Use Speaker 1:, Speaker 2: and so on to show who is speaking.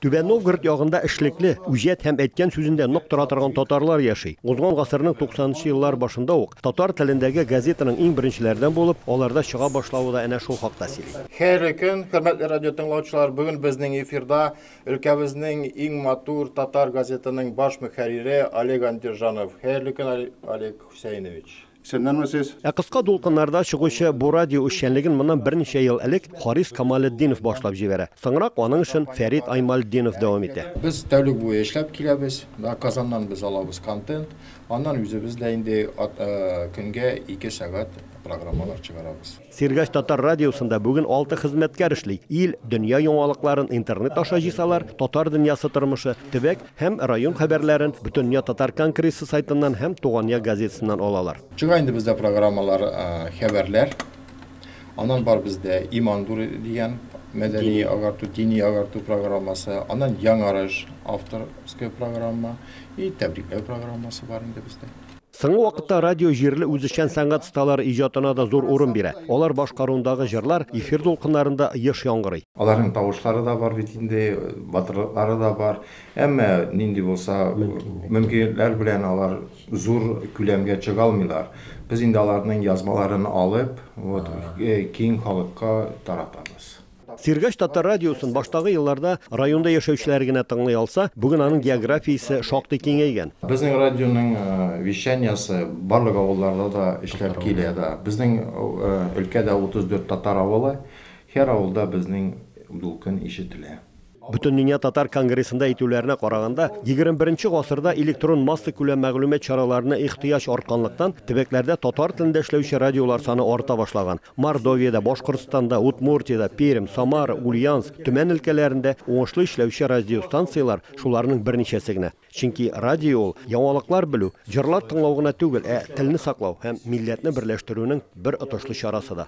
Speaker 1: Түбән Новгород ягында эшлекле, үҗәт һәм әйткән сүзендә нык тора торган татарлар яши. Узган гасырның 90-нчы еллар башында ук татар телендәге газетаның иң беренчеләрдән булып, аларда чыга башлавы да әнә шул хакта сөйли. Хәерле көн, хөрмәтле
Speaker 2: радио тыңлаучылар! Бүген безнең эфирда өлкәбезнең иң матур татар газетының баш мөхәррире Олег Андержанов. Хәерле көн, Олег Хусәйнович! Сеннәнме сез? Ә
Speaker 1: кыска дулкыннарда чыгучы бу радио эшчәнлеген моннан берничә ел элек Харис Камалетдинов башлап җибәрә. Соңрак аның эшен Фәрит Аймалетдинов дәвам итә. Без тәүлек буе
Speaker 2: эшләп киләбез. Менә Казаннан без алабыз контент. Аннан үзебез дә инде көнгә ике сәгать программалар чыгарабыз. Сергач татар
Speaker 1: радиосында бүген алты хезмәткәр эшли. Ил, дөнья яңалыкларын интернет аша җыйсалар, татар дөньясы тормышы, төбәк һәм район хәбәрләрен Бөтендөнья татар конгрессы сайтыннан һәм Тугания газетасыннан алалар. Чыга инде бездә
Speaker 2: программалар, хәбәрләр. Аннан бар бездә Иман нуры дигән мәдәни агарту, дини агарту программасы. Аннан Яңарыш авторская программа и тәбрикләү программасы бар инде бездә. Соңгы вакытта
Speaker 1: радио җирле үзешчән сәнгать осталары иҗатына да зур урын бирә. Алар башкаруындагы җырлар эфир дулкыннарында еш яңгырый. Аларның тавышлары да
Speaker 2: бар бит инде, батырлыклары да бар. Әмма нинди булса мөмкинлекләр белән алар зур күләмгә чыга алмыйлар. Без инде аларның язмаларын алып, вот, киң халыкка таратабыз. Сергач татар
Speaker 1: радиосын баштагы елларда районда яшәүчеләр генә тыңлый алса, бүген аның географиясе шактый киңәйгән. Безнең радионың
Speaker 2: вещаниясе барлык авылларда да эшләп килә дә. Безнең өлкәдә 34 татар авылы, һәр авылда безнең дулкын ишетелә. Бөтендөнья
Speaker 1: татар конгрессында әйтүләренә караганда, 21 гасырда электрон масса күләм мәгълүмат чараларына ихтыяҗ артканлыктан, төбәкләрдә татар телендә эшләүче радиолар саны арта башлаган. Мордовиядә, Башкортстанда, Удмуртиядә, Пермь, Самара, Ульяновск, Төмән өлкәләрендә уңышлы эшләүче радиостанцияләр шуларның берничәсе генә. Чөнки радио ул, яңалыклар белү, җырлар тыңлау гына түгел, ә телне саклау һәм милләтне берләштерүнең бер отышлы чарасы да.